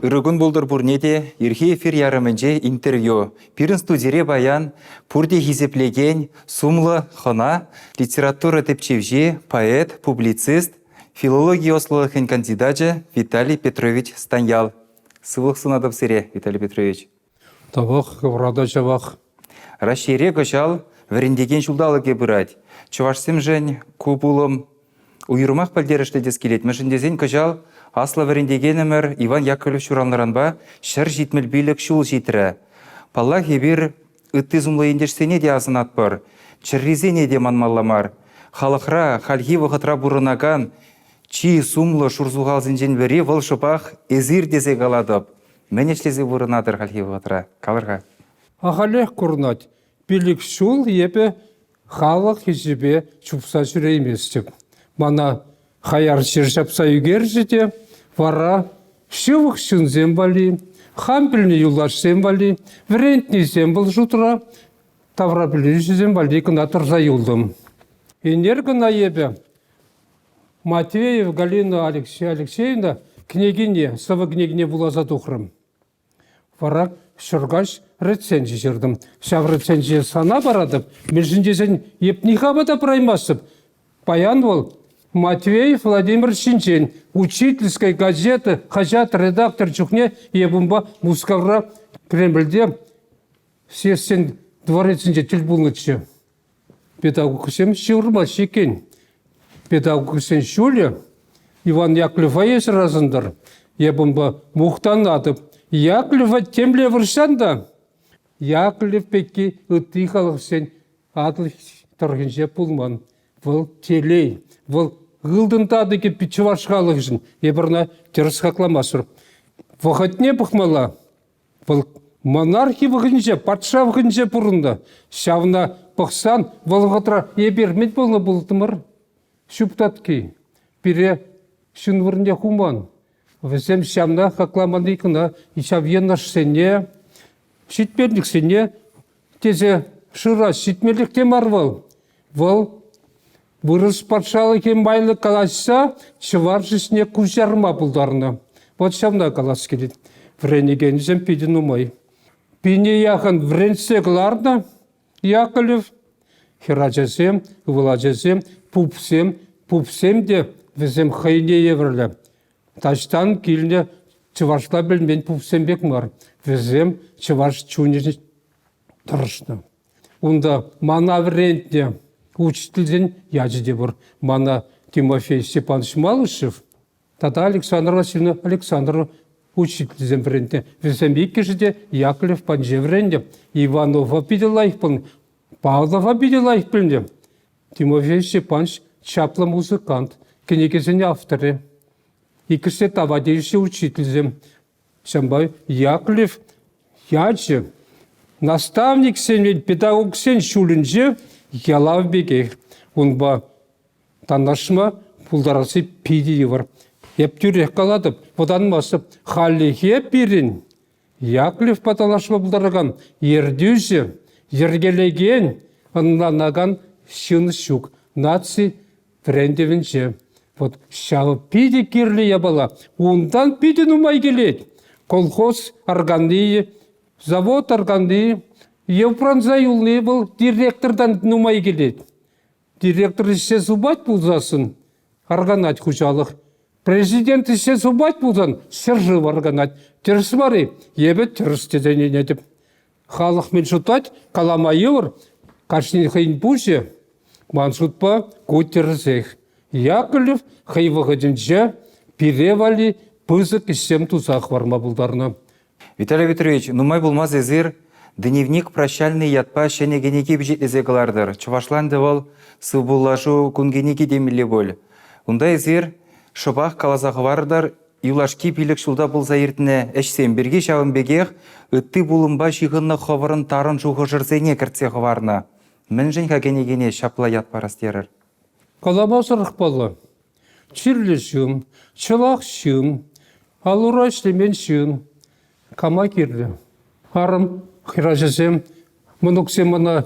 Ырӑ кун пултӑр пурне те. Ирхи эфир ярӑмӗнче интервью. Пирӗн студире паян пурте хисеплекен сумлӑ хӑна, литература тӗпчевҫи, поэт, публицист, филологи ӑслӑлӑхӗн кандидачӗ Виталий Петрович Станьял. Сывлӑх сунатӑп сире, Виталий Петрович. Тавах хӑвӑра та ҫавах. Раҫҫейре кӑҫал вӗрентекен ҫулталӑкӗ пырать. Чӑвашсемшӗн ку пулӑм уйрӑмах пӗлтерӗшлӗ тес килет, мӗншӗн тесен кӑҫал аслӑ вӗрентекенӗмӗр Иван Яковлев ҫуралнӑранпа ҫӗр ҫитмӗл пилӗк ҫул ҫитрӗ. Паллах, эпир ытти сумлӑ ентешсене те асӑнатпӑр, чӗррисене те манмалла мар. Халӑхра хальхи вӑхӑтра пурӑнакан чи сумлӑ шурсухалсенчен пӗри вӑл шӑпах эсир тесе калатӑп. Мӗн ӗҫлесе пурӑнатӑр хальхи вӑхӑтра? Калӑр-ха. Ахалех курӑнать. Пилӗк ҫул эпӗ халӑх хисепе чупса ҫӳрейместӗп. Мана хаяр чир ҫапса ӳкерчӗ те вара ҫывӑх ҫынсем валли, хам пӗлнӗ юлташсем валли, вӗрентнисем вӑл шутра, таврапӗлӳҫӗсем валли кӑна тӑрса юлтӑм. Ӗнер кӑна эпӗ Матвеев Галина Алексеевна кӗнекине, сӑвӑ кӗнекине вуласа тухрӑм. Вара ҫӗркаҫ рецензи ҫыртӑм. Ҫав рецензи сана паратӑп, мӗншӗн тесен эп никама та пыраймастӑп. Паян вӑл Матвеев Владимировичсенчен учительская газета хаҫат редактор чухне эп унпа Мускавра Кремльте Следственный дворецӗнче тӗл пулнӑччӗ. Педагогсем ҫывӑрмаҫҫӗ иккен. Педагогсен ҫулӗ Иван Яковлева эсӗр асӑнтӑр. Эп унпа мухтанатӑп. Яковлева темле вырӑссан та Яковлев пекки ытти халӑхсен Атӑл тӑрӑхӗнче пулман. Вӑл телей, вӑл ылтӑн татӑкӗ пит чӑваш халӑхӗшӗн. Эпир ӑна тӗрӗс хакламастпӑр. Вӑхӑтне пӑхмалла. Вӑл монархи вӑхӑтӗнче, патша вӑхӑтӗнче пурӑннӑ. Ҫавна пӑхсан вӑл вӑхӑтра эпир мӗн пулнӑ пултӑмӑр? Ҫуп татки. Пире ҫын вырӑнне хуман. Вӗсем ҫавна хакламанни кӑна ҫав йӑнӑшсене, ҫитменлӗхсене тесе шырас ҫитмеллех те мар вӑл. Вӑл вырӑс патшалӑхӗ майлӑ калаҫса ҫӑвар ҫӗсне куҫарма пултарнӑ. Вот ҫавна калас килет. Вӗренекенсем питӗ нумай. Пине яхӑн вӗрентсе кӑларнӑ Яковлев. Хӗрачасем, ывӑл ачасем, пупсем, пупсем те вӗсем хӑйне евӗрлӗ. Таҫтан килнӗ чӑвашла пӗлмен пупсем пек мар. Вӗсем чӑваш чунӗ тӑрӑшнӑ. Унта мана вӗрентнӗ учительсен ячӗ те пур. Мана Тимофей Степанович Малышев тата Александра Васильевна Александрова учительсем вӗрентнӗ. Вӗсем иккӗшӗ те Яковлев Панче вӗреннӗ. Иванова питӗ лайӑх пулнӑ. Павлова питӗ лайӑх пӗлнӗ. Тимофей Степанович чаплӑ музыкант, кӗнекесен авторӗ. Иккӗшне тава тивӗҫлӗ учительсем. Ҫавӑнпа Яковлев ячӗ наставниксен, педагогсен ҫулӗнче ялав пекех. Унпа танлашма пултарасси питӗ йывӑр. Эп тӳрех калатӑп, вӑтанмастӑп. Хальлӗхе пирӗн Яковлевпа танлашма пултаракан ертӳҫӗ йӗркелекен, ӑнланакан ҫын ҫук наци трендӗвӗнче. Вот ҫавӑ питӗ кирлӗ япала. Унтан питӗ нумай килет. Колхоз органи, завод органи, Упранса юлни вӑл директортан нумай килет. Директор ӗҫсе супать пулсассӑн арканать хуҫалӑх. Президент ӗҫсе супать пулсан ҫӗршыв арканать. Тӗрӗс мар-и? Эпӗ тӗрӗс тесе ӗненетӗп. Халӑх мӗн шутлать, калама йывӑр. Кашнин хӑйӗн пуҫӗ. Ман шутпа, ку тӗрӗсех. Яковлев хӑй вӑхӑтӗнче пире валли пысӑк ӗҫсем туса хӑварма пултарнӑ. Виталий Петрович, нумай пулмасть эсир «Дневник прощальный» ятпа ҫӗнӗ кӗнеке пичетлесе кӑлартӑр. Чӑвашланчӗ вӑл «Сывпуллашу кун кӗнеки» темелле пуль. Унта эсир шӑпах каласа хӑварӑр юлашки пилӗк ҫулта пулса иртнӗ ӗҫсем пирки, ҫавӑн пекех ытти пулӑмпа ҫыхӑннӑ хӑвӑрӑн тарӑн шухӑшӑрсене кӗртсе хӑварнӑ. Мӗншӗн-ха кӗнекене ҫапла ят парас терӗр? Каламасӑрах паллӑ. чирлӗ ҫын, чӑваш ҫын, ал-ура ӗҫлемен ҫын кама кирлӗ. Арӑм хӗрачасем, мӑнуксем ӑна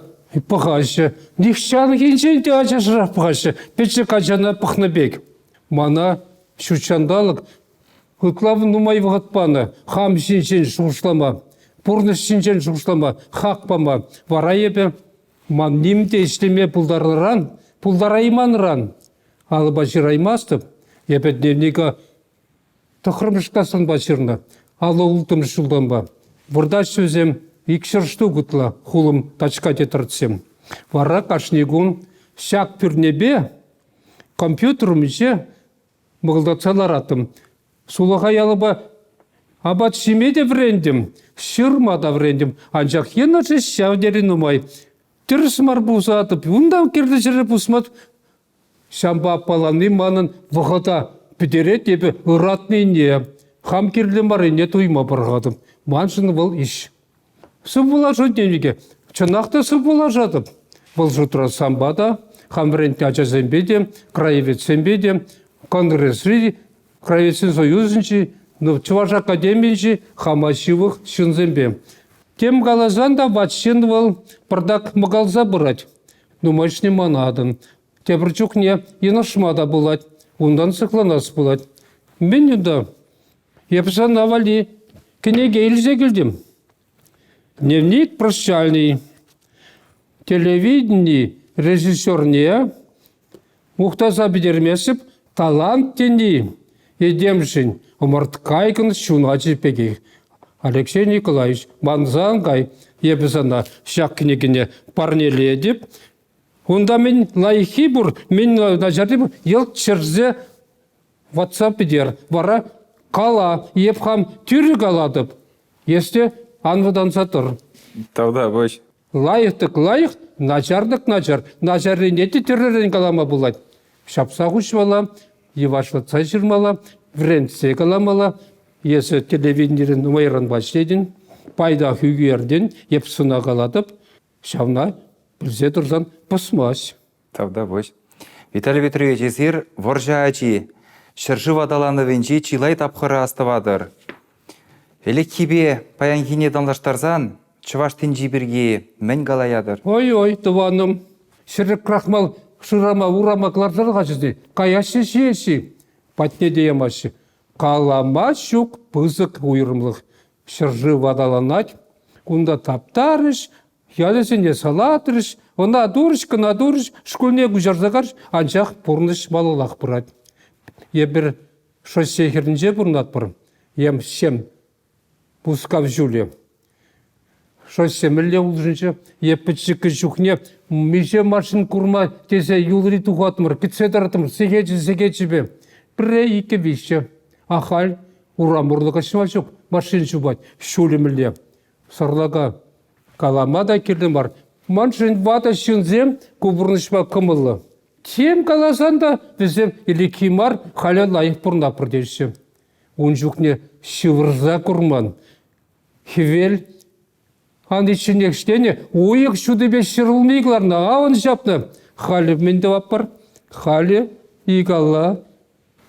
пӑхаҫҫӗ. Нихҫанхинчен те ачашрах пӑхаҫҫӗ, пӗчӗк ачана пӑхнӑ пек. Мана ҫут ҫанталӑк ытла нумай вӑхӑт панӑ. Хам ҫинчен шухӑшлама, пурнӑҫ ҫинчен шухӑшлама, хак пама. Вара эпӗ ман ним те ӗҫлеме пултарнӑран, пултарайманран Алӑпа ҫыраймастӑп. Я пӗтнерника тӑххӑрмӗш класранпа ҫырнӑ. Алла-улттӑмӗш ҫултанпа. Выртаҫҫӗ вӗсем икҫӗр штук ытла хулӑм тачка тетертсем. Вара кашни кун ҫак пӳрнепе компьютерум ӗҫе мӑкӑлтатса ларатӑм. Сулахай алӑпа апат ҫиме те вӗрентӗм, ҫырма та вӗрентӗм. Анчах енӗшӗ ҫав тери нумай. Тӗрӗс мар пусатӑп, унтан кирлӗ ҫӗре пусматӑп. Ҫампа аппаланни манӑн вӑхӑта пӗтерет, эпӗ ыратнине, хам кирлӗ маррине туйма пӑрахатӑп. Маншӑн вӑл ӗҫ. Сывпуллашать тенӗ чӑнах та сывпуллашатӑп. Вӑл шутра сампа та, хам вӗрентнӗ ачасемпе те, краеведсемпе те, конгресри Советсен Союзӗнчи, ну, Чӑваш Академийӗнчи хама ҫывӑх ҫынсемпе. Тем каласан та ват ҫын вӑл пӑртак мӑкалса пырать. Нумайӑшне манатӑн. Тепӗр чухне йӑнӑшма та пулать, унтан сыхланас пулать. Мӗн унта? Эп сана валли кӗнеке илсе килтӗм. Дневник прощальный телевидени режиссерне мухтаса пӗтермесӗп талант тени этемшӗн ӑмӑрткайкӑн ҫуначӗ пекех. Алексей Николаевич, мансан кай, эпӗ сана ҫак кӗнекене парнелетӗп. Унта мӗн лайӑххи пур, мӗн начарри пур, йӑлт ҫӗрсе ватса пӗтер, вара кала, эп хам тӳрӗ калатӑп. Эс те ан вӑтанса тӑр. Тавтапуҫ. Лайӑх тӑк лайӑх, начар тӑк начар. Начаррине те тӳррӗн калама пулать. Ҫапса хуҫмалла, йӑвашлатса ҫырмалла, вӗрентсе каламалла. Эсӗ телевидение нумайранпа ӗҫлетӗн, пайтах ӳкертӗн, эп сӑна калатӑп. Ҫавна пӗлсе тӑрсан пӑсмасть. Тавтапуҫ. Виталий Петрович, эсир вӑрҫӑ ачи. Ҫӗршыв аталанӑвӗнчи чылай тапхӑра астӑватӑр. Ӗлӗкхипе паянхине танлаштарсан чӑваш тӗнчи пирки мӗн калаятӑр? Ой-ой, тӑванӑм, ҫӗрӗк крахмал шырама урама кӑларсах ачасем каяҫҫӗ ҫеҫ-и? Патне те ямаҫҫӗ. Калама ҫук пысӑк уйрӑмлӑх. Ҫӗршыв аталанать, кунта таптарӗҫ, Ячӗсене салатрӗҫ, ӑна турӗҫ кӑна турӗҫ, шкулне куҫарса карӗҫ, анчах пурнӑҫ малаллах пырать. Эпир шоссе хӗрринче пурӑнатпӑр, эм сем Мускав ҫулӗ. Шоссе мӗнле улшӑнчӗ? Е пӗчӗккӗ чухне миҫе машина курма тесе юлри тухатмӑр, кӗтсе тӑраттӑмӑр сехечӗ-сехечӗпе. Пӗрре, иккӗ, виҫҫӗ. Ахаль урам урлӑ каҫма ҫук, машина чупать ҫулӗ мӗнле. Сарлака калама та кирлӗ мар. Маншӑн ватӑ ҫынсем ку пурнӑҫма кӑмӑллӑ. Тем каласан та вӗсем ӗлӗкхи мар, халӗ лайӑх пурӑнатпӑр теҫҫӗ. Ун чухне ҫывӑрса курман. Хӗвел ан ичченех ҫитене уйӑх ҫутипе ҫӗрулми кӑларнӑ, авӑн ҫапнӑ. Халӗ мӗн тӑватпӑр? Халӗ икалла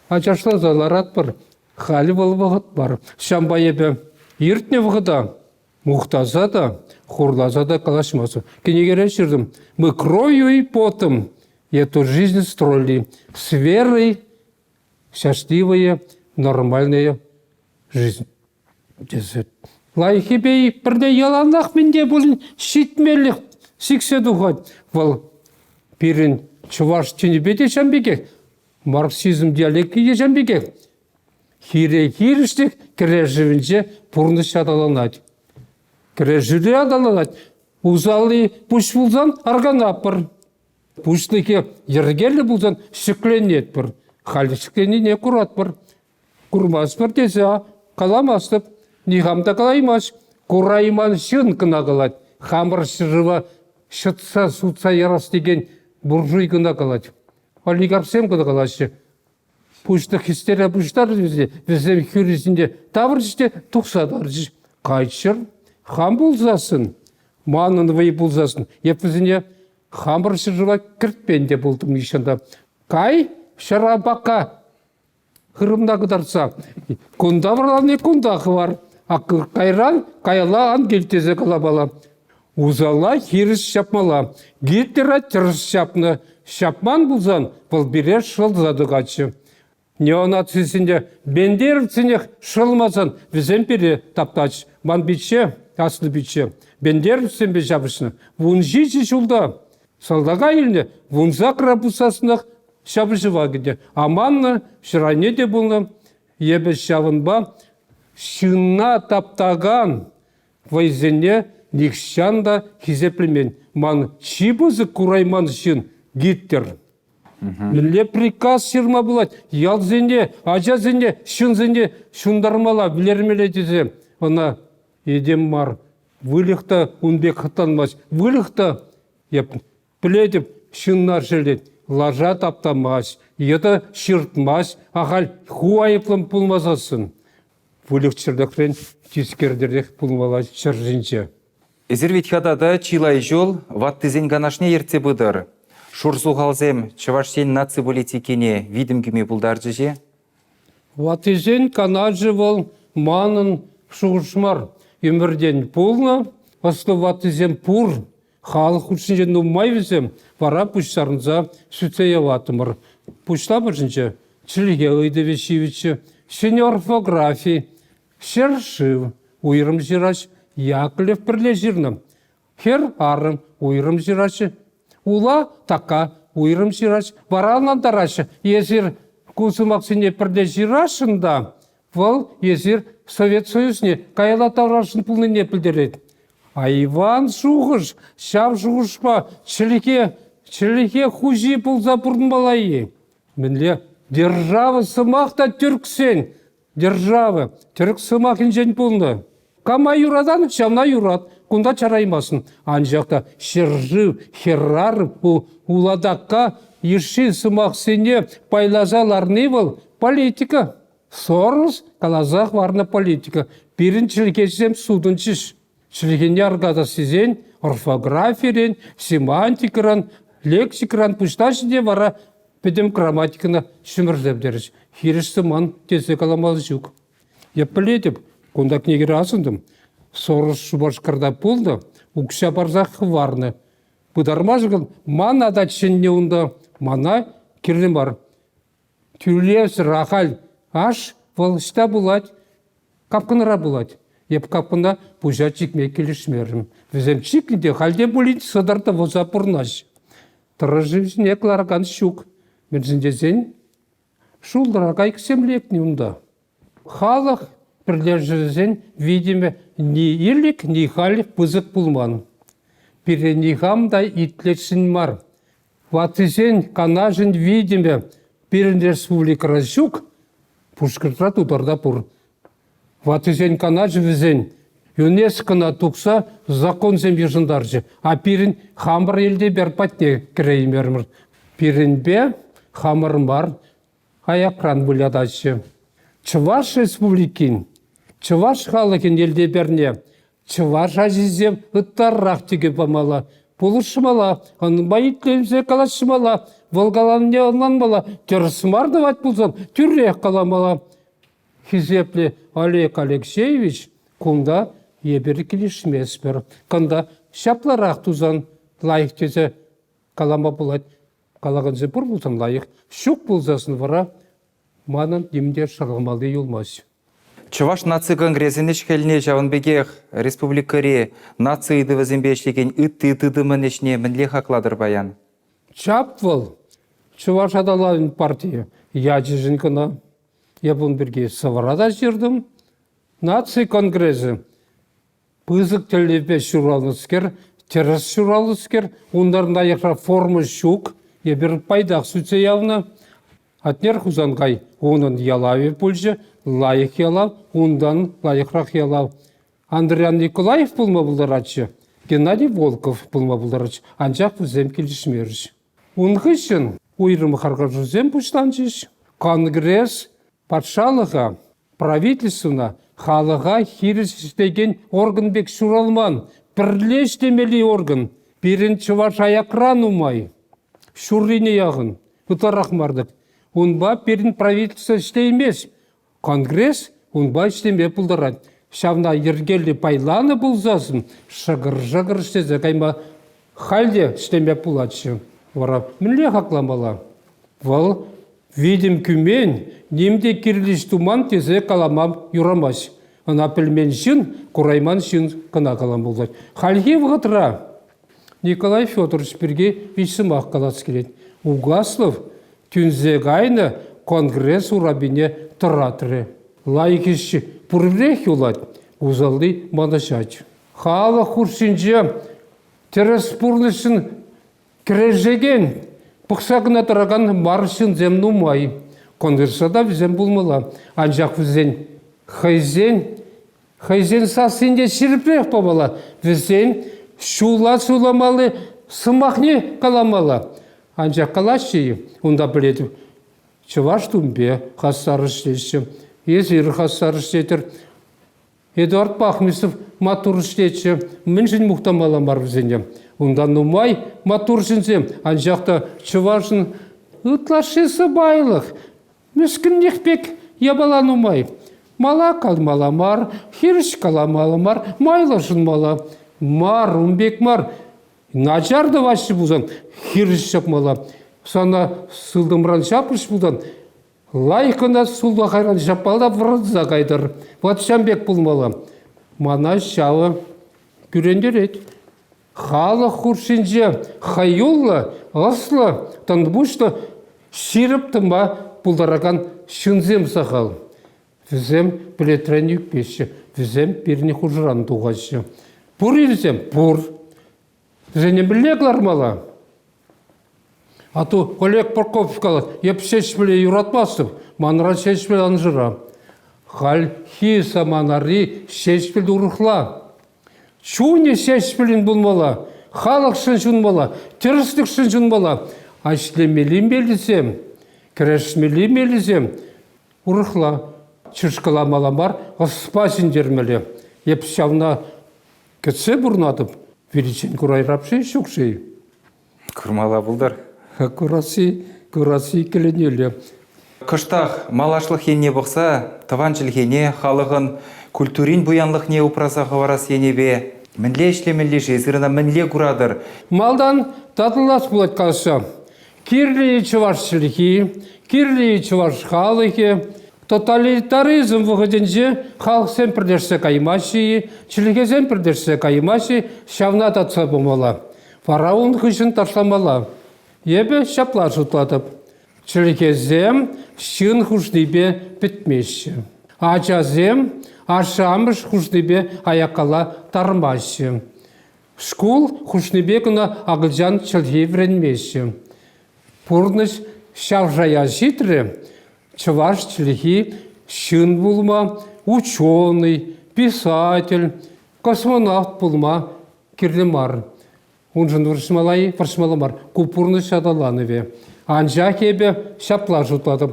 Ачашласа ларатпӑр. Халь вӑл вӑхӑт мар. Ҫавӑнпа эпӗ иртнӗ вӑхӑта мухтаса та, хурласа та калаҫмастӑп. Кӗнекере ҫыртӑм. «Мы кровью и потом эту жизнь строили в сверой счастливые, нормальные жизнь». тесе лайӑххипе пӗрне яланах мӗн те пулин ҫитмеллех сиксе тухать вӑл пирӗн чӑваш чӗнипе те ҫавӑн пекех марксизм диалекчӗ те ҫавӑн пекех хире хирӗҫлӗх кӗрешӗвӗнче пурнӑҫ аталанать кӗрешӳре аталанать усалли пуҫ пулсан арканатпӑр пуҫлӑхӗ йӗркеллӗ пулсан ҫӗкленетпӗр халь ҫӗкленине куратпӑр Курмастпӑр тесе каламастӑп. Нихам та калаймасть. Курайман ҫын кӑна калать. Хамӑр ҫырӑва ҫӑтса сутса ярас текен буржуй кӑна калать. Олигархсем кӑна калаҫҫӗ. Пуҫлӑх хистере пуҫтарчӗ вӗсене. Вӗсем хӳрисенче тавӑрчӗҫ те тухса тарчӗҫ. Кайччӑр, хам пулсассӑн, манӑн вӑй пулсассӑн, эп вӗсене хамӑр ҫӗршыва кӗртмен те пултӑм нихҫан та. Кай, ҫӑрапака! Хырӑмта кӑтартса кунта вӑрлани кунта хӑвар, а кайран каялла ан кил тесе калапала. Усала хирӗҫ ҫапмала. Гитлера тӗрӗс ҫапнӑ. Ҫапман пулсан вӑл пире шӑлса тӑкатчӗ. Неонацисене, бендеровцсенех шӑлмасан вӗсем пире таптач. Ман пичче, аслӑ пичче, бендеровцсемпе ҫапӑҫнӑ. Вун ҫичӗ ҫулта Салтака илнӗ вунсакра пуссассӑнах ҫапӑҫӑва кӗнӗ. Аманнӑ ҫӗр те пулнӑ. Эпӗ ҫавӑнпа ҫынна таптакан вӑйсене нихҫан та хисеплемен. Ман чи пысӑк курайман ҫын Гитлер. Мӗнле приказ ҫырма пулать ялсене, ачасене, ҫынсене ҫунтармалла, вилермелле тесе ӑна этем мар, выльӑх та кун пек хӑтанмасть. Выльӑх та, я пӗлетӗп, ҫыннар ҫӗлет, лаша таптамасть, йытӑ ҫыртмасть. Ахаль ху айӑплӑн пулмасассӑн выльӑх-чӗрлӗхрен тискертерех пулмалла ҫӗр ҫинче. Эсир вӗт-ха тата чылай ҫул ваттисен канашне ертсе пытӑр. Шурсухалсем Чӑваш Ен наци политикине витӗм кӳме пултарчӗҫ-и? Ваттисен канашӗ вӑл манӑн шухӑш мар. Ӗмӗртен пулнӑ ӑслӑ ваттисем пур. Халӑх хушшинче нумай вӗсем, вара пуҫтарӑнса сӳтсе яваттӑмӑр. Пуҫлап ӑшӗнче чӗлхе ыйтӑвӗ ҫивӗччӗ, ҫӗнӗ орфографи, ҫӗр-шыв, уйрӑм ҫырач Яковлев пӗрле ҫырнӑ. Хӗр арӑм уйрӑм ҫыраҫҫӗ. Ула така уйрӑм ҫыраҫ. Вара ӑнлантараҫҫӗ, эсир ку сӑмахсене пӗрле ҫырасшӑн та вӑл эсир Совет Союзне каялла таврашӑн пулнине пӗлтерет. Айван шухӑш ҫав шухӑшпа чӗлхе чӗлхе хуҫи пулса пурӑнмалла-и? Мӗнле держава сӑмах та тӳрксен Держава тӗрӗк сӑмахӗнчен пулнӑ. Кама юратан, ҫавна юрат. Кунта чараймассӑн. Анчах та ҫӗршыв хӗрарӑм ку улатака йышши сӑмахсене пайласа ларни вӑл политика. Сорос каласа хӑварнӑ политика. Пирӗн чӗлхесем сутӑнчӗҫ. Чӗлхене аркатас тесен орфографирен, семантикӑран, лексикӑран пуҫлаҫҫӗ те вара пӗтӗм грамматикӑна ҫӗмӗрсе пӗтерӗҫ. Хирӗҫ сӑман тесе каламалли ҫук. Эп пӗлетӗп, кунта кӗнекере асӑнтӑм. Сорос Шупашкарта пулнӑ, укҫа парсах хӑварнӑ. Пытармашкӑн ман ата чӗннӗ унта, мана кирлӗ мар. Тӳлевсӗр ахаль аш вӑл ӑҫта пулать? Капкӑнра пулать. Эп капкӑна пуҫа чикме килӗшмерӗм. Вӗсем чикнӗ те халь те пулин сӑтӑр тӑвӑса пурӑнаҫ. Тӑрӑши ҫине кӑларакан ҫук. Мӗншӗн тесен шултӑра кайӑксем лекнӗ унта. Халӑх пӗрлешӗвӗсен витӗмӗ ни ирлӗк, ни халь пысӑк пулман. Пире никам та итлесшӗн мар. Ваттисен канашӗн витӗмӗ пирӗн республикӑра ҫук, Пушкӑртра, Тутарта пур. Ваттисен канашӗ вӗсен ЮНЕСКОна тухса законсем йышӑнтарчӗ, а пирӗн хамӑр элтепер патне кӗреймерӗмӗр. Пирӗнпе хамӑр мар, аякран вылятаҫҫӗ. Чӑваш Республикин чӑваш халӑхӗн йӗлтӗрне чӑваш ачисем ытларах тӗкӗ памалла, пулӑшмалла, ӑнпа итленсе калаҫмалла, вӑл каланине ӑнланмалла, тӗрӗс мар тӑвать пулсан, тӳрех каламалла. Хисеплӗ Олег Алексеевич, кунта эпир килӗшместпӗр. Кунта ҫапларах тусан лайӑх тесе калама пулать. калакансем пур пулсан лайӑх, ҫук пулсассӑн вара манӑн ним те шӑрӑлмалли юлмасть. Чӑваш наци конгресӗн ӗҫ-хӗлне ҫавӑн пекех республикӑри наци ыйтӑвӗсемпе ӗҫлекен ытти тытӑмӑн ӗҫне мӗнле хаклатӑр паян? Чап вӑл, Чӑваш аталанӑвӗн партийӗ ячӗшӗн кӑна. Эп ун пирки сӑвӑра та ҫыртӑм. Наци конгресӗ Пысӑк тӗллевпе ҫуралнӑскер, тӗрӗс ҫуралнӑскер, унтан лайӑхра форма ҫук, эпир пайтах сӳтсе явнӑ. Атнер Хусанкай унӑн ялавӗ пулчӗ, лайӑх ялав, унтан лайӑхрах ялав. Андриян Николаев пулма пултаратчӗ, Геннадий Волков пулма пултаратчӗ, анчах вӗсем килӗшмерӗҫ. Ун хыҫҫӑн уйрӑм харкашусем пуҫланчӗҫ. Конгресс патшалӑха, правительствӑна, халӑха хирӗҫ ӗҫлекен орган пек ҫуралман пӗрле ӗҫлемелли орган. Пирӗн чӑваш аякран нумай. Ҫуррине яхӑн, ытларах мар-тӑк. Унпа пирӗн правительство ӗҫлеймест. Конгресс унпа ӗҫлеме пултарать, ҫавна йӗркеллӗ пайланӑ пулсассӑн шӑкӑр-шӑкӑр ӗҫлесе кайма халь те ӗҫлеме пулатчӗ. Вара мӗнле хакламалла? Вӑл «витӗм кӳмен, ним те кирлӗ ӗҫ туман» тесе калама юрамасть. Ӑна пӗлмен ҫын курайман ҫын кӑна калама пултарать. Хальхи вӑхӑтра Николай Федорович пирки виҫ сӑмах калас килет. Угаслов тӳнсе кайнӑ конгресс урапине тӑратрӗ. Лайӑх ӗҫ пуррех юлать, усалли манӑҫать. Халӑх хушшинче тӗрӗс пурнӑҫшӑн кӗрешекен, пӑхса кӑна тӑракан мар ҫынсем нумай. Конгресса та вӗсем пулмалла, анчах вӗсен хӑйсен Хӑйсен сассинче ҫирӗпрех пӑвӑла, вӗсен ҫулла суйламалли сӑмахне каламалла. Анчах калаҫҫӗ-и унта пӗлетӗп. Чӑваш тумпе хастар ӗҫлеҫҫӗ. Эсир хастар ӗҫлетӗр. Эдуард Пахмисов маттур ӗҫлетчӗ. Мӗншӗн мухтамалла мар вӗсене? Унта нумай маттур ҫынсем, анчах та чӑвашӑн ытлашши сӑпайлӑх. Мӗскӗнлӗх пек япала нумай. Мала калмалла мар, хирӗҫ каламалла мар, майлӑ шӑнмалла мар, ун пек мар. Начар тӑваҫҫӗ пулсан, хирӗҫ чакмалла. Сана сылтӑмран ҫапрӗҫ пулсан, лайӑх кӑна сулахайран ҫапмалла вырӑнса кайтӑр. Ватҫан пек пулмалла. Мана ҫавӑ кӳрентерет. Халӑх хушшинче хӑюллӑ, ӑслӑ, тӑнпуҫлӑ, ҫирӗп тӑнпа пултаракан ҫынсем сахал. Вӗсем пӗлӗтрен ӳкмеҫҫӗ, вӗсем пирӗн хушӑран тухаҫҫӗ. Пур ирсем пур. Вӗсене мӗнле кӑлармалла? А то Олег Прокопьев калать, эп Ҫеҫпӗле юратмастӑп, манра Ҫеҫпӗл ан шыра. Хальхи саманари Ҫеҫпӗл урӑхла. Чунӗ ҫеҫпӗлӗн пулмалла, халӑхшӑн ҫунмалла, тӗрӗслӗхшӗн ҫунмалла. Ӗҫлемелли меллисем, кӗрешмелли меллисем урӑхла. Чышкаламалла мар, ӑспа ҫӗнтермелле. Эп ҫавна кӗтсе пурӑнатӑп. Пирӗнчен курайрапши ҫук-ши? Курмалла пултар. Курасси, курасси иккӗленӳллӗ. Кӑштах малашлӑх енне пӑхса тӑван чӗлхене, халӑхӑн культурин пуянлӑхне упраса хӑварас енӗпе мӗнле ӗҫлемелли-ши, сырӑна мӗнле куратӑр? Малтан татӑлас пулать калаҫса. Кирлӗ чӑваш чӗлхи, кирлӗ чӑваш халӑхӗ. Тоталитаризм вӑхӑтӗнче халӑхсем пӗрлешсе каймаҫҫӗ-и, чӗлхесем пӗрлешсе каймаҫҫӗ, ҫавна татса памалла. Фараон хыҫҫӑн ташламалла. Эпӗ ҫапла шутлатӑп. Чӗркесем ҫын хушнипе пӗтмеҫҫӗ. Ачасем ашшӗ-амӑш хушнипе аяккалла тармаҫҫӗ. Шкул хушнипе кӑна акӑлчан чӗлхи вӗренмеҫҫӗ. Пурнӑҫ ҫав шая ҫитрӗ. Чӑваш чӗлхи ҫын пулма ученый, писатель, космонавт пулма кирлӗ мар. Уншӑн вӑрҫмалла-и? Вӑрҫмалла мар. Ку пурнӑҫ аталанӑвӗ. Анчах эпӗ ҫапла шутлатӑп.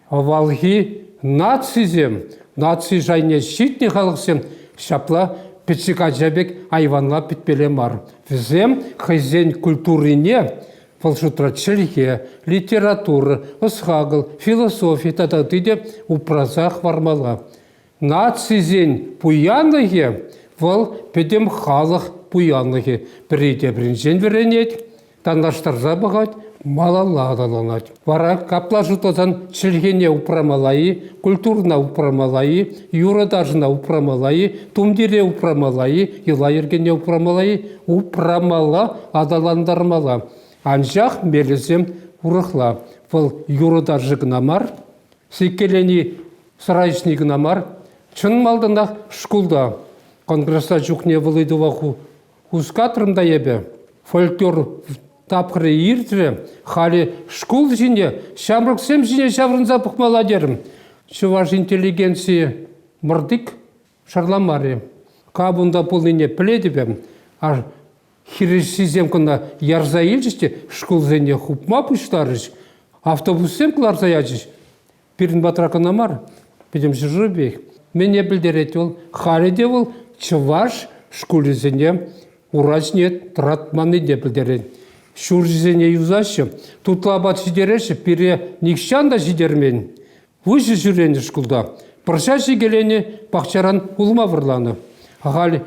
Авалхи нацисем, наци шайне ҫитнӗ халӑхсем ҫапла пӗчӗк ача пек айванла пӗтмелле мар. Вӗсем хӑйсен культурине, вӑл шутра чӗлхе, литература, ӑс-хакӑл, философи тата ытти те упраса хӑвармалла. Нацисен пуянлӑхӗ вӑл пӗтӗм халӑх пуянлӑхӗ пӗри тепринчен вӗренет, танлаштарса пӑхать, малалла аталанать. Вара капла шутласан чӗлхене упрамалла-и, культурӑна упрамалла-и, юрӑ-ташӑна упрамалла-и, тумтире упрамалла-и, йӑла-йӗркене упрамалла-и, упрамалла, аталантармалла. Анчах мелӗсем урӑхла. Вӑл юрӑ-ташӑ кӑна мар, сиккелени Сӑра ӗҫни кӑна мар, чӑн малтанах шкулта. Конгресса чухне вӑл ыйтӑва хускатрӑм та эпӗ. Фольклор тапхӑрӗ иртрӗ, халӗ шкул ҫине, ҫамрӑксем ҫине ҫаврӑнса пӑхмалла терӗм. Чӑваш интеллигенцийӗ мӑртик шарламарӗ. Кам унта пулнине пӗлетӗп эп. Хирӗҫҫисем кӑна ярса илчӗҫ те шкулсене хупма пуҫларӗҫ, автобуссем кӑларса ячӗҫ. Пирӗн патра кӑна мар, пӗтӗм ҫӗршывпех. Мӗне пӗлтерет вӑл? Халӗ те вӑл чӑваш шкулӗсене ура ҫине тӑратманни те пӗлтерет. Ҫурҫӗсене юсаҫҫӗ, тутла апат ҫитереҫҫӗ, пире нихҫан та ҫитермен. Выҫӑ ҫӳренӗ шкулта пӑрҫа ҫикеленӗ пахчаран улма вӑрланӑ. Халь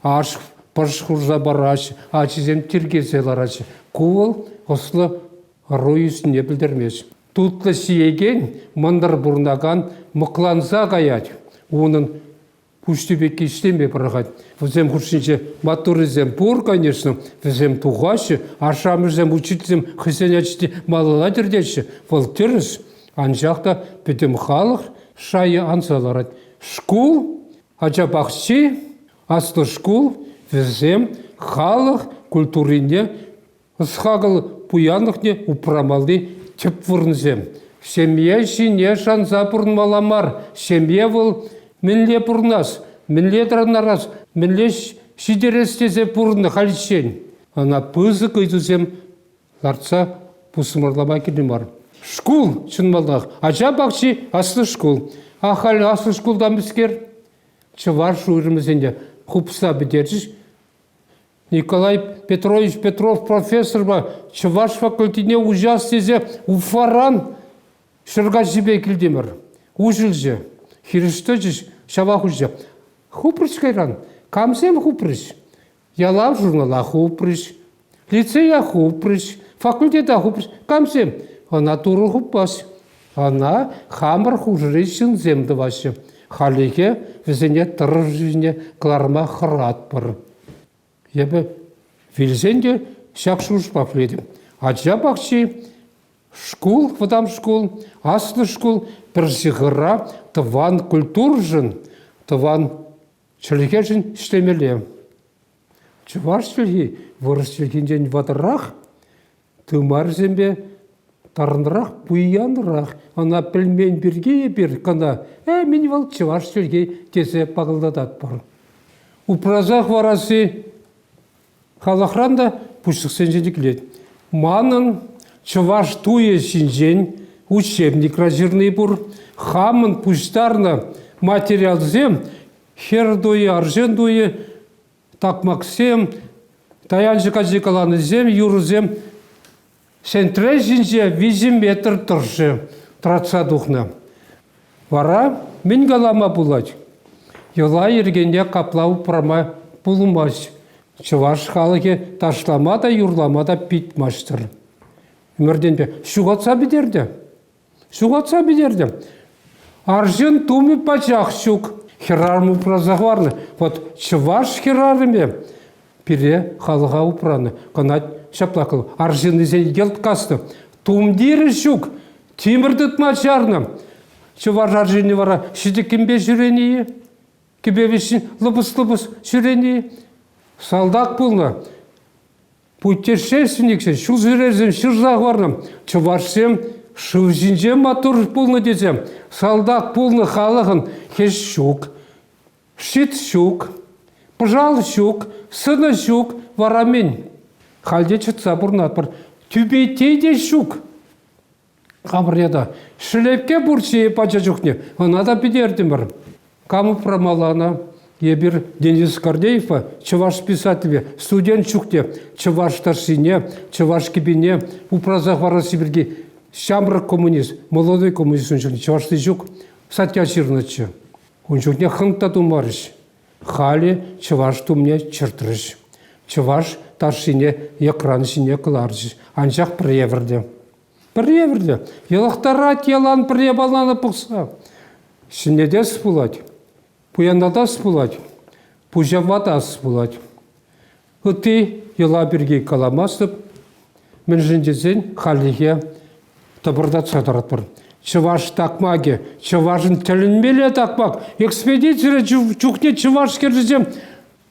аш пӑш хурса параҫҫӗ, ачисем тиркесе лараҫҫӗ. Ку вӑл ӑслӑ ӑру ӳснине пӗлтермест. Тутлӑ сиекен мӑнтӑр пурӑнакан мӑкланса каять. Унӑн пуҫти пек ислеме пӑрахать. Вӗсем хушшинче маттуррисем пур, конечно, вӗсем тухаҫҫӗ. Ашшӗ-амӑшӗсем, учительсем хӑйсен ачине малалла тӗртеҫҫӗ. Вӑл тӗрӗс, анчах та пӗтӗм халӑх шайӗ анса ларать. Шкул, ача пахчи, аслӑ шкул, вӗсем халӑх культурине Ӑс-хакӑл пуянлӑхне упрамалли тӗп вырӑнсем. Ҫемье ҫине шанса пурӑнмалла мар. Ҫемье вӑл мӗнле пурӑнас, мӗнле тӑрӑнарас, мӗнле ҫитерес тесе пурӑннӑ хальччен. Ӑна пысӑк ыйтусем лартса пусмӑрлама кирлӗ мар. Шкул, чӑнмалтах, ача пахчи аслӑ шкул. А халь аслӑ шкулта мӗскер? Чӑваш уйрӑмӗсен те хупса пӗтерчӗҫ. Николай Петрович Петров профессорпа чӑваш факультетне уҫас тесе Уфаран Ҫӗркаҫҫипе килтӗмӗр. Уҫӑлчӗ. Хирӗҫ тӑчӗҫ, ҫава хуҫа. Хупрӗҫ кайран. Камсем хупрӗҫ? Ялав журнала хупрӗҫ. Лицея хупрӗҫ. Факультета хупрӗҫ. Камсем? Ӑна Турӑ хупас. Ӑна хамӑр хушӑри ҫынсем тӑваҫҫӗ. Халӗхе вӗсене тӑрӑшусене кӑларма хӑратпӑр. Эпӗ вилсен те ҫак шухӑшпа пӗлетӗп. Ача пахчи, шкул, вӑтам шкул, аслӑ шкул пӗр ҫыхӑра тӑван культурӑшӑн, тӑван чӗлхешӗн ӗҫлемелле. Чӑваш чӗлхи вырӑс чӗлхинчен ватӑрах. Тымарсемпе тарӑнрах, пуянрах. Ӑна пӗлмен пирки эпир кӑна «Э, мӗн вӑл чӑваш чӗлхи?» тесе пакӑлтататпӑр. Упраса хӑварасси халӑхран та пуҫлӑхсенчен килет. Манӑн чӑваш туйӗ ҫинчен учебник раҫырни пур. Хамӑн пуҫтарнӑ материалсем хӗр туйӗ, арҫын туйӗ такмаксем, таянчӑк ачи каланисем, юрӑсем сентре ҫинче виҫӗ метр тӑршшӗ тӑратса тухнӑ. Вара мӗн калама пулать? Йӑла-йӗркене капла упрама пулмасть. Чӑваш халӑхӗ ташлама та, юрлама та пит маҫтӑр. Ӗмӗртенпе ҫухатса пӗтернӗ. Ҫухатса пӗтертӗм. Арҫын тумӗ пачах ҫук. Хӗрарӑм упраса хӑварнӑ. Вӑт чӑваш хӗрарӑмӗ пире халӑха упранӑ. Кӑна ҫапла кӑл арҫыннисен йӑлт каснӑ. Тумтирӗ ҫук. Тимӗр тытма чарнӑ. Чӑваш арҫынӗ вара ҫитӗккӗнпе ҫӳренӗ-и? Кӗпе вӗҫҫин лӑпӑс-лӑпӑс ҫӳренӗ-и? Салтак пулнӑ. Путешественниксем, ҫулҫӳревсем ҫырса хӑварнӑ. Чӑвашсем шыв ҫинче маттур пулнӑ тесе салтак пулнӑ халӑхӑн хӗҫ ҫук, щит ҫук, пӑшал ҫук, сӑнӑ ҫук, вара мӗн? Халь те чӑтса пурӑнатпӑр. Тӳпейте те ҫук. Хамӑр ята Шелеке пурччӗ пача чухне, ӑна та питертӗмӗр. Кам упрамалла ӑна? Эпир Денис Гордеевпа чӑваш писателӗ студент чухне чӑваш ташшине, чӑваш кӗпине упраса хӑварасси пирки ҫамрӑк коммунист, молодой коммунист ун чухне чӑвашли ҫук статья ҫырнӑччӗ. Ун чухне хӑнк та тумарӗҫ. Халӗ чӑваш тумне чӑртрӗҫ. Чӑваш ташшине йӑкран ҫине кӑларчӗҫ, анчах пӗр евӗрлӗ. Пӗр евӗрлӗ. Йӑлахтарать ялан пӗр япалана пӑхса. Ҫӗнетес пулать, пуянлатас пулать, пуҫавлатас пулать. Ытти йӑла пирки каламастӑп, мӗншӗн тесен хальлӗхе тӑпӑртатса тӑратпӑр. Чӑваш такмакӗ, чӑвашӑн тӗлӗнмелле такмак. Экспедицире чухне чӑваш кӗршисем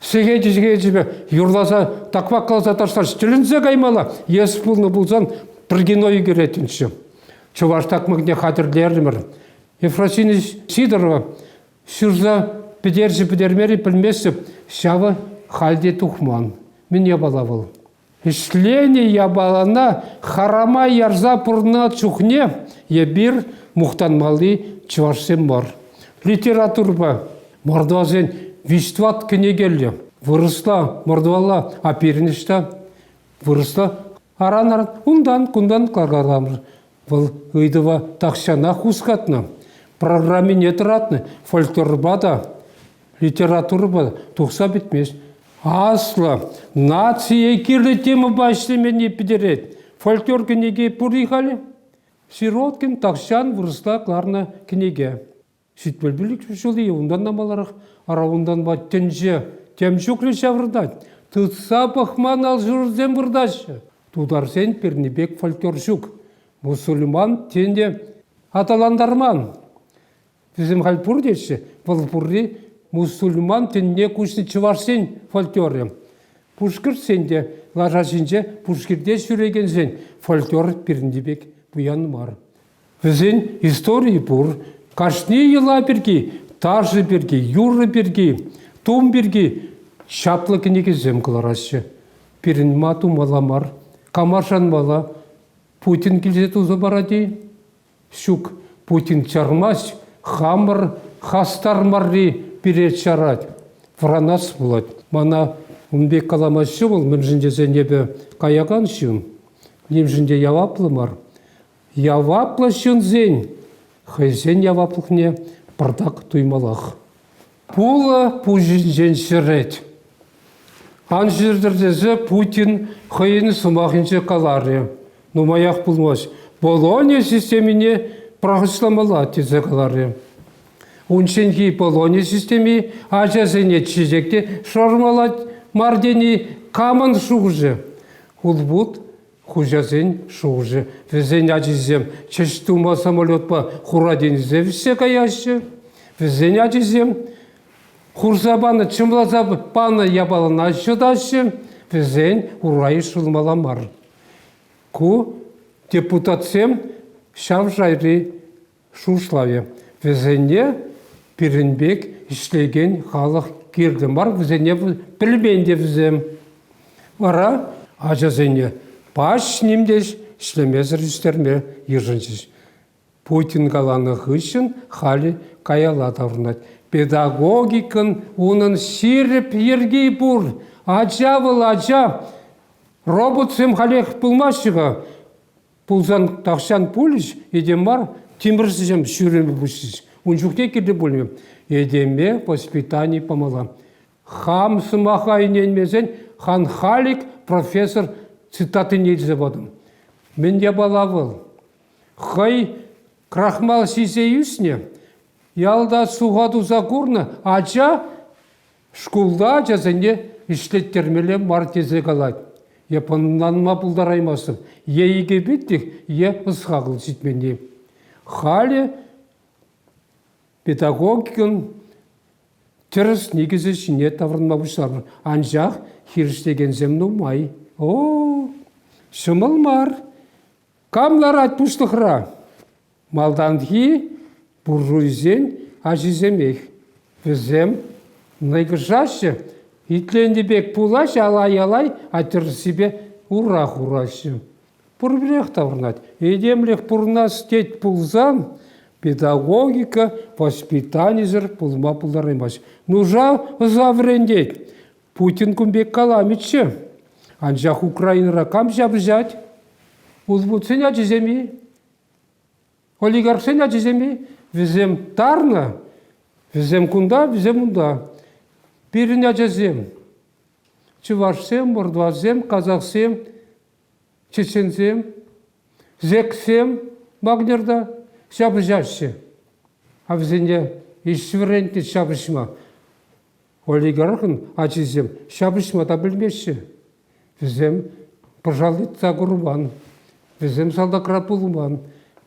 сехечӗпе юрласа, такмакласа ташлаҫ. Тӗлӗнсе каймалла. Ес пулнӑ пулсан пӗр кино ӳкеретӗнччӗ. Чӑваш такмакне хатӗрлерӗмӗр. Ефросинья Сидорова Ҫырса пӗтерчӗ-пӗтермерӗ пӗлместӗп, ҫавӑ халь те тухман. Мӗн япала вӑл? Ӗҫленӗ япалана харама ярса пурӑннӑ чухне эпир мухтанмалли чӑвашсем мар. Литературӑпа мордвасен виҫтӑват кӗнекеллӗ. Вырӑсла мордвалла, а пирӗн ӑҫта? Вырӑсла Аран-аран унтан-кунтан кӑкарламӑш. Вӑл ыйтӑва тахҫанах хускатнӑ. Программине тӑратнӑ, фольклорпа та, литературӑпа та тухса пӗтмест. Аслӑ, нацие кирлӗ темӑпа ӗҫлеменни пӗтерет. Фольклор кӗнеки пур-и халӗ? Сироткин тахҫан вырӑсла кӑларнӑ кӗнеке. Ситмелпӳлӗк ҫули унтанна маларах аравунтанпа тӗнче тем ҫуклӗ ҫаврӑнать. Тытса пӑхман алшурсем выртаҫҫӗ. Тутарсен пирни пек фольклор ҫук. Мусульман тенте аталантарман. Вӗсем халь пур теҫҫӗ. Вӑл пурри мусульман тӗнне куҫнӑ чӑвашсен фольклорӗ. Пушкӑртсен те лаша ҫинче пушкирте ҫӳрекенсен фольклор пирӗнти пек пуян мар. Вӗсен историйӗ пур. Кашни йӑла пирки, ташӑ пирки, юрӑ пирки, тум пирки чаплӑ кӗнекесем кӑлараҫҫӗ. Пирӗн ма тумалла мар? Кама шанмалла? Путин килсе туса парать-и? Ҫук, Путин чармасть, хамӑр хастар марри пире чарать. Вранас пулать. Мана ун пек каламаҫҫӗ вӑл, мӗншӗн тесен эпӗ каякан ҫын, нимшӗн те яваплӑ мар. Яваплӑ ҫынсен хӑйсен яваплӑхне пӑртак туймаллах. Пулӑ пуҫӗнчен ҫӗрет. Ан ҫыртӑр тесе Путин хӑйӗн сӑмахӗнче каларӗ. Нумаях пулмасть Болония системине пӑрахӑҫламалла тесе каларӗ. Унчченхи Болония системи ачасене чечек те шӑрмалать мар тени камӑн шухӑшӗ? Хулпут Хуҫасен шухӑшӗ. Вӗсен ачисем ҫӗҫ тума самолетпа хура тенӗсе вӗҫсе каяҫҫӗ. Вӗсен ачисем хурса панӑ, чӑмласа панӑ япалана ҫӑтаҫҫӗ. Вӗсен урай шӑлмала мар. Ку депутатсем ҫав шайри Шухӑшлавӗ, вӗсене пирӗн пек ӗҫлекен халӑх кирлӗ мар, вӗсене пӗлмен те вӗсем. Вара ачасене пач нимтеш ӗҫлемесӗр ӳстерме йышӑнчӗҫ. Путин каланӑ хыҫҫӑн халӗ каялла таврӑнать. Педагогикӑн унӑн ҫирӗп йӗрки пур. Ача вӑл ача. Роботсем халех пулмаҫҫӗ-ха. пулсан тахҫан пулӗҫ, этем мар, тимӗрҫӗсем сӳрӗме пуҫӗҫ. Ун чухне кирли пулмӗ. Этеме воспитани памалла. Хам сӑмаха ӗненмесен хан Халик профессор цитатине илсе патӑм. Мӗн япала вӑл? Хӑй крахмал ҫисе ӳснӗ, ялта суха туса курнӑ ача Шкулта ачасене ӗҫлеттермелле мар тесе калать. Е пӑнланма пултараймастӑн, е икӗпитлӗх, е ӑсхакӑл ҫитменни. Халӗ педагогикӑн тӗрӗс никӗсӗ ҫине таврӑнма пуҫланӑ. Анчах хирӗҫлекенсем нумай. О, ҫӑмӑл мар. Кам ларать пуҫлӑхра? Малтанхи буржуйсен ачисемех. Вӗсем нӑйкӑшаҫҫӗ, итленӗ пек пулаҫ алай-алай атьӑрсипе ура хураҫҫӗ. Пурпӗрех таврӑнать. Этемлӗх пурӑнас тет пулсан, педагогика воспитанисӗр пулма пултараймасть. Нужа ӑса вӗрентет. Путин кун пек каламӗччӗ. Анчах Украинӑра кам ҫапӑҫать? Узбуксен ачисем-и? Олигархсен ачисем-и? Вӗсем тарнӑ, вӗсем кунта, вӗсем унта. Пирӗн ачасем, чӑвашсем, мордвасем, казахсем, чеченсем, зексем Вагнерта ҫапӑҫаҫҫӗ. А вӗсене ӗҫ вӗрентнӗ ҫапӑҫма. Олигархӑн ачисем ҫапӑҫма та пӗлмеҫҫӗ. Вӗсем пӑшал тытса курман, вӗсем салтакра пулман.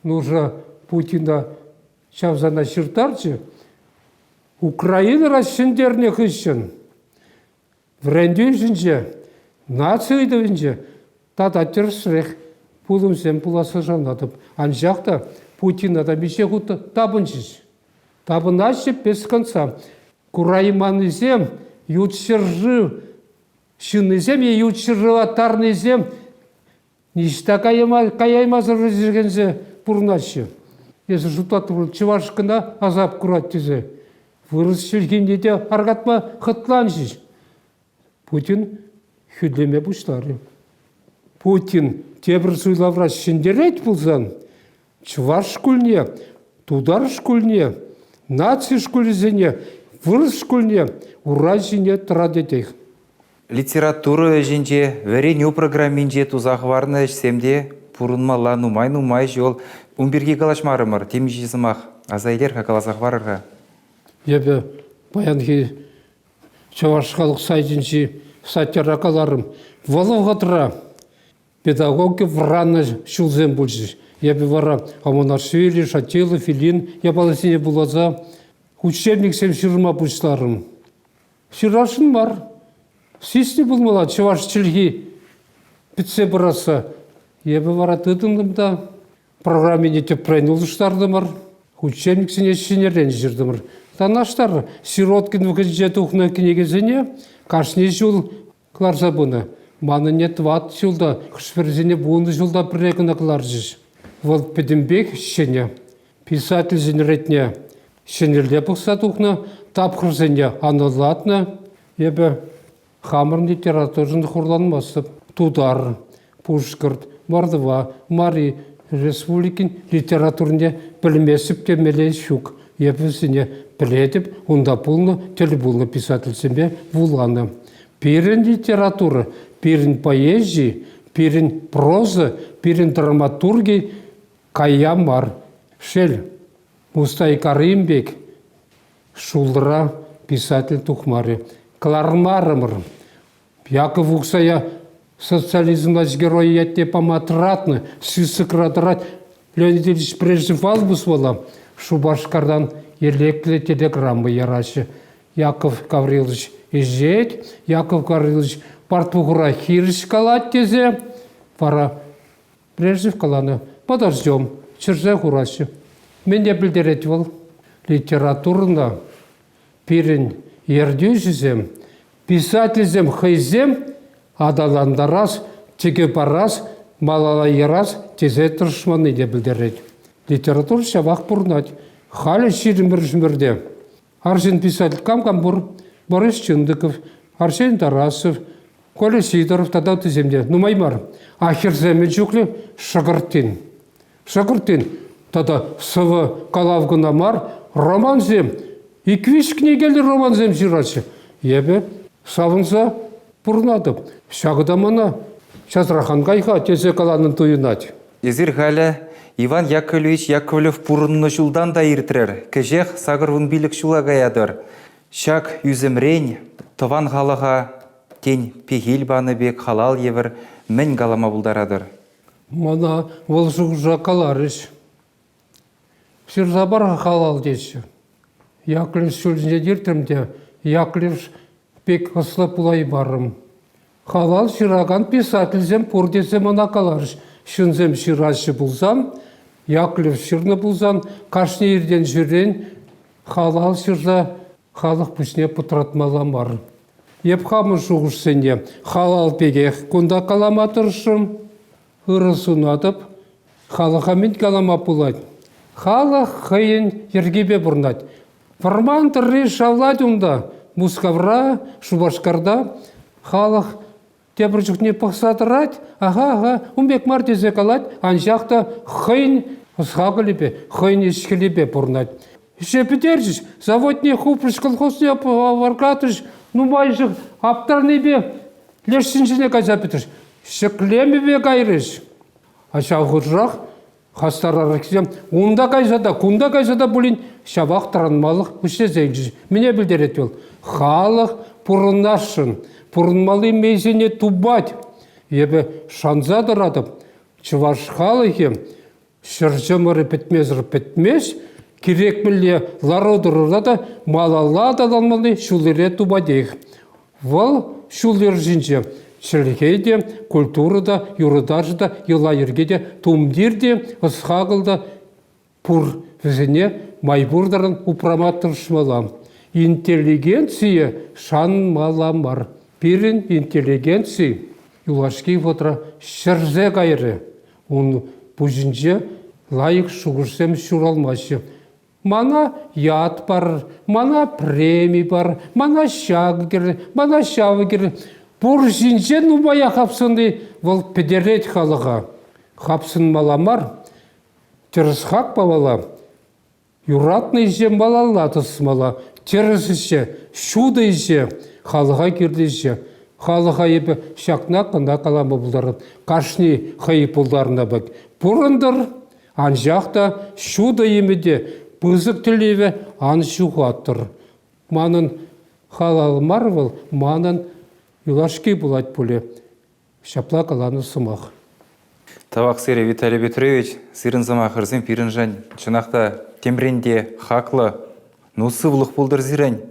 Нуша Путина чавсана ҫыртарчӗ. Украинӑра ҫӗнтернӗ хыҫҫӑн вӗрентӳ ӗҫӗнче, наци ыйтӑвӗнче тата тӗрӗсрех пулӑмсем пуласса шанатӑп. Анчах та Путина та миҫе хут тапӑнчӗҫ. Тапӑнаҫҫӗ песконцерт. Курайманнисем, ют ҫӗршыв ҫыннисем е ют ҫӗршываттарнисем ниҫта каяймасӑр ӗҫлекенсе пурӑнаҫҫӗ. Эсӗ шутлатӑп, чӑваш кӑна асап курать тесе вырӑс чӗлхине те аркатма хӑтланчӗҫ. Путин хӳтлеме пуҫларӗ. Путин тепӗр суйлавра ҫӗнтерет пулсан чӑваш шкулне, тутар шкулне, наци шкулӗсене, вырӑс шкулне ура ҫине тӑратетех. Литература ӗҫӗнче, вӗренӳ программинче туса хӑварнӑ ӗҫсем те пурӑнмалла нумай-нумай ҫул. Ун пирки калаҫмарӑмӑр, темиҫе сӑмах аса илер-ха, каласа хӑварӑр-ха. Эпӗ паянхи Чӑваш халӑх сайтӗнчи статьяра каларӑм, вӑл вӑхӑтра педагоги вӑраннӑ ҫулсем пулчӗҫ. Эпӗ вара Аманашвили, Шатилов, Ильин япаласене вуласа учебниксем ҫырма пуҫларӑм. Ҫырасшӑн мар. Сиснӗ пулмалла чӑваш чӗлхи пӗтсе пырасса. Эпӗ вара тытӑнтӑм та Программине тӗпрен улӑштартӑмӑр, хутченниксене ҫӗнӗрен ҫыртӑмӑр. Танлаштар, Сироткин вӑхӑтӗнче тухнӑ кӗнекесене кашни ҫул кӑларса пынӑ. Манӑнне тӑват ҫулта, хӑш-пӗрисене вунӑ ҫулта пӗрре кӑна кӑларчӗҫ. Вӑл пӗтӗмпех ҫӗнӗ. Писательсен ретне ҫӗнӗлле пӑхса тухнӑ, тапхӑрсене анлӑлатнӑ. Эпӗ Хамӑрӑн литературӑшӑн хурланмастӑп. Тутар, Пушкӑрт, Мордва, Мари Республикин литературине пӗлместӗп темелле ҫук. Эп вӗсене пӗлетӗп, унта пулнӑ тӗл пулнӑ писательсемпе вуланӑ. Пирӗн литература, пирӗн поэзи, пирӗн проза, пирӗн драматурги кая мар. Шел, Мустай Каримбек Ҫулра писатель тухмарӗ. Кӑлармарӑмӑр. Яков Уксая социализм власть геройӗ ятне пама тӑратнӑ. Списокра тӑрать Леонид Ильич Преждев Валбус вӑла. Шупашкартан елеклӗ телеграмма яраҫҫӗ. Яков Гаврилович ӗҫет, Яков Гаврилович портвухура хирӗҫ калать тесе вара Брежнев каланӑ, подождем, ҫӗрсе хураҫҫӗ. Мӗн те пӗлтерет вӑл? Литературӑна пирӗн ертӳҫӗсем, писательсем хӑйсем аталантарас, тӗкӗ парас, малалла ярас тесе тӑрӑшманни те пӗлтерет. Литература ҫавах пурӑнать. Халӗ ҫирӗммӗш ҫӗмӗрте Арҫын писатель кам-кам пур? Борис Чындыков, Арсен Тарасов, Коля Сидоров тата ыттисем те нумай мар. А хӗрсем мӗн чухлӗ? Шӑкӑртин. Шӑкӑртин тата сӑвӑ калав кӑна мар, романсем. Ик-виҫ кӗнекеллӗ романсем ҫыраҫҫӗ. Эпӗ савӑнса Пурӑнатӑп. Ҫакӑ та мана часрах ан кай-ха, тесе каланӑ туйӑнать. Эсир халӗ Иван Яковлевич Яковлев пурӑннӑ ҫултан та иртрӗр. Кӗҫех сакӑр вун пилӗк ҫула каятӑр. Ҫак ӳсӗмрен тӑван халӑха, тен, пехил панӑ пек халал евӗр мӗн калама пултаратӑр? Мана вӑл шухӑша каларӗҫ. Ҫырса пар-ха халал теҫҫӗ. Яклеш ҫуртӗнче иртрӗм те Яклеш пек ӑслӑ пулаймарӑм. Халал ҫыракан писательсем пур тесе мана каларӗҫ. Ҫынсем ҫыраҫҫӗ пулсан, Яклеш ҫырнӑ пулсан, кашни иртен-ҫӳрен халал ҫырса халӑх пуҫне пӑтратмалла мар. Эп хамӑн шухӑшсене халал пекех кунта калама тӑрӑшрӑм. Ырӑ сунатӑп. Халӑха мӗн калама пулать? Халӑх хӑйӗн йӗркипе пурӑнать. Вӑрман тӑрри шавлать унта. Мускавра, Шупашкарта халӑх тепӗр чухне пӑхса тӑрать. Аха-аха, ун пек мар тесе калать, анчах та хӑйӗн ӑс-хакӑлӗпе, хӑйӗн ӗҫ-хӗлӗпе пурӑнать. Ӗҫе пӗтерчӗҫ, заводне хупрӗҫ, колхозне варкатрӗҫ. Нумайӑшӗ аптранипе лешсен ҫине кайса пӗтрӗҫ. Ҫӗклемӗве кайрӗҫ. А ҫав хушӑрах хастарраххисем унта кайса та, кунта кайса та пулин ҫапах тӑранмалӑх пуҫлесенчӗҫ. Мӗне пӗлтерет вӑл? Халӑх пурӑнасшӑн, пурӑнмалли мейсене тупать. Эпӗ шанса тӑратӑп, чӑваш халӑхӗ Ҫӗр чӑмӑрӗ пӗтмесӗр пӗтмест, кирек мӗнле лару-тӑрура та малалла аталанмалли ҫул-йӗре тупатех. Вӑл ҫул-йӗр ҫинче чӗлхе те, культура та, юрӑ-ташӑ та, йӑла-йӗрке те, тумтир те, ӑс-хакӑл та пур. Вӗсене май пур таран упрама тӑрӑшмалла. Интеллигенцие шанмалла мар. Пирӗн интеллигенци юлашки вӑхӑтра ҫӗрсе кайрӗ. Ун пуҫӗнче лайӑх шухӑшсем ҫуралмаҫҫӗ. Мана ят парӑр, мана преми парӑр, мана ҫакӑ кӗрӗр, мана ҫавӑ кӗрӗр. Пур ҫинче нумая хапсӑнни вӑл пӗтерет халӑха. Хапсӑнмалла мар. Тӗрӗс хак памалла. Юратнӑ ӗҫе малалла тӑсмалла. Тӗрӗс ӗҫе, ҫутӑ ӗҫе, халӑха кирлӗ ӗҫе. Халӑха эпӗ ҫакна кӑна калама пултарат. Кашни хӑй пултарнӑ пек пурӑнтӑр, анчах та ҫутӑ ӗмӗте, пысӑк тӗллеве ан ҫухаттӑр. Манӑн халал мар вӑл, манӑн юлашки пулать пулӗ. Ҫапла каланӑ сӑмах. Тавахсери Виталий Петрович, сирӗн сӑмахӑрсем пирӗншӗн чӑнах та темрен те хаклӑ, ну сывлӑх пултӑр сирӗн.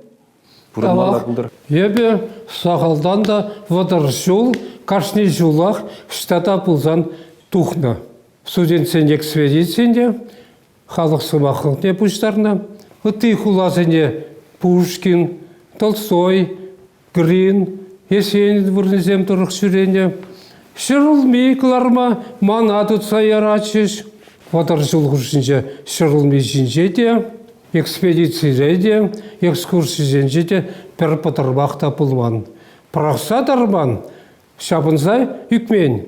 Пурӑнмалла пултӑр. Эпӗ сахалтан та вӑтӑр ҫул, кашни ҫулах штата пулсан тухнӑ. Студентсен экспедицийӗ те халӑх сӑмахлӑхне пуҫтарнӑ. Ытти хуласене Пушкин, Толстой, Пӗрин хӗсен вырӑнӗсем тӑрӑх ҫӳренӗ. Ҫӗрулми кӑларма мана тытса яратчӗҫ. Вӑтӑр ҫул хушшинче ҫӗрулми ҫинче те, экспедицире те, экскурсисенче те пӗр пӑтӑрмах та пулман. Пӑрахса тарман, ҫапӑнса ӳкмен.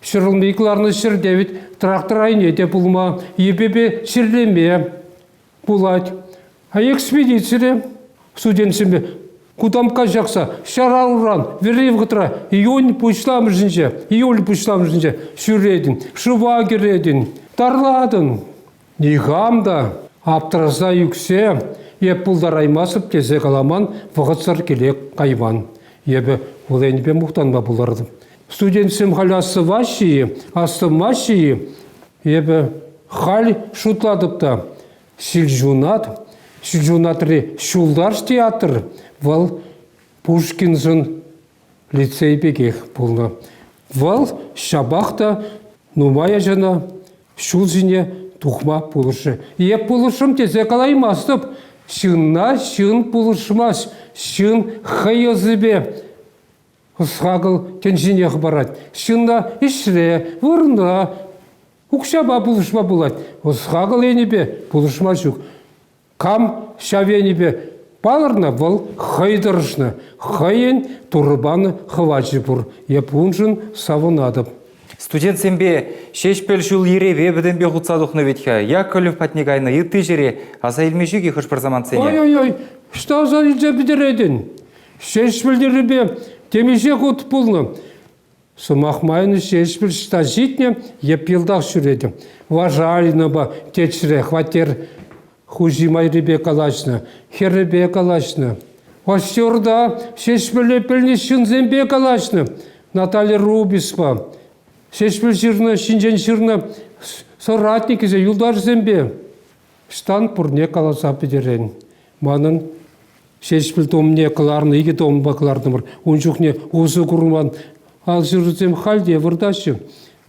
Ҫӗрулми кӑларнӑ ҫӗрте вӗт трактор айне те пулма, йӗпепе чирлеме, Пулать. Экспедицире студентсемпе Кутамкка ҫакса ҫарауран вӗри вӑхӑтра июнь пуҫламӑшӗнче, июль пуҫламӑшӗнче ҫӳретӗн, шыва кӗретӗн, тарлатӑн. Никам та аптӑраса ӳксе е пултараймастӑп тесе каламан вӑхӑтсӑр киле кайман. Эпӗ вӑл енӗпе мухтанма пултартӑм. Студентсем халь астӑваҫҫӗ-и, астӑвмаҫҫӗ-и? Эпӗ халь шутлатӑп та, Ҫилҫунат, Ҫилҫунатри Ҫулташ театр вӑл Пушкинсен лицей пекех пулнӑ. Вӑл ҫапах та нумай ачана ҫул ҫине тухма пулӑшрӗ. Эп пулӑшрӑм тесе калаймастӑп. Ҫынна ҫын пулӑшмасть. Ҫын хӑй ӑсӗпе Ӑс-хакӑл тӗнчине хӑпарать. Ҫынна ӗҫре, вырӑна, укҫапа пулӑшма пулать. Ӑс-хакӑл енӗпе пулӑшма ҫук. Кам ҫав енӗпе палӑрнӑ, вӑл хӑй тӑрӑшнӑ, хӑйӗн Турӑ панӑ хӑвачӗ пур. Эп уншӑн савӑнатӑп. Студентсемпе Ҫеҫпӗл ҫул-йӗрепе пӗтӗмпех утса тухнӑ вӗт-ха. Яковлев патне кайнӑ ытти ҫӗре аса илме ҫук-и хӑш-пӗр самантсене? Ой-ой-ой, ӑҫта аса илсе пӗтеретӗн? Ҫеҫпӗл тӗррипе темиҫе хут пулнӑ. Сӑмах майӑн Ҫеҫпӗл ҫта ҫитнӗ йӗп йӑлтах ҫӳретӗ. Важалинӑпа течре хваттер хуҫи майрипе калаҫнӑ, хӗррипе калаҫнӑ. Форсерта Ҫеҫпӗле пӗлнӗ ҫынсемпе калаҫнӑ. Наталья Рубиспа, Ҫеҫпӗл ҫырнӑ ҫинчен ҫырнӑ соратникӗсем, юлташсемпе. Ӑҫтан пурне каласа пӗтерен? Манӑн Ҫеҫпӗл томне кӑларнӑ икӗ томпа кӑлартӑмӑр. Ун чухне усӑ курман алҫырусем халь те выртаҫҫӗ.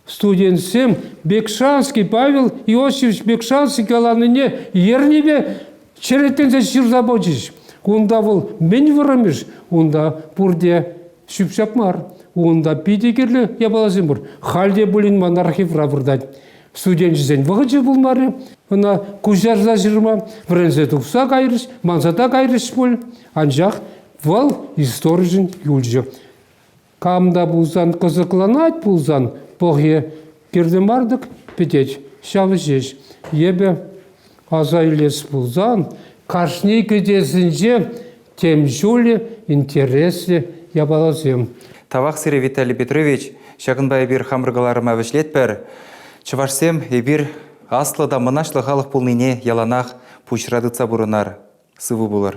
Студентсем Бекшанский Павел Иосифович Бекшанский каланине ернипе черетленсе ҫырса пачӗҫ. Унта вӑл мӗн вӑрӑмӗш, унта пурте Ҫӳп-ҫап мар. Унта питӗ кирлӗ япаласем пур. Халь те пулин ман архивра выртать. Студенчӗсен вӑхӑчӗ пулмарӗ. Ӑна куҫарса ҫырма вӗренсе тухса кайрӗҫ, мансата кайрӗҫ пуль. Анчах вӑл историшӗн юлчӗ. Кам та пулсан кӑсӑкланать пулсан пӑхӗ, Пирте мар-тӑк пӗтет ҫав ҫеҫ. Эпӗ аса илес пулсан, кашни кӗтесӗнче тем ҫулӗ интереслӗ япаласем. Тавах сире, Виталий Петрович. Ҫакӑнпа эпир хамӑр кӑларӑма вӗҫлетпӗр. Чӑвашсем эпир аслӑ та мӑнаҫлӑ халӑх пулнине яланах пуҫра тытса пурӑнар, сывӑ пулӑр.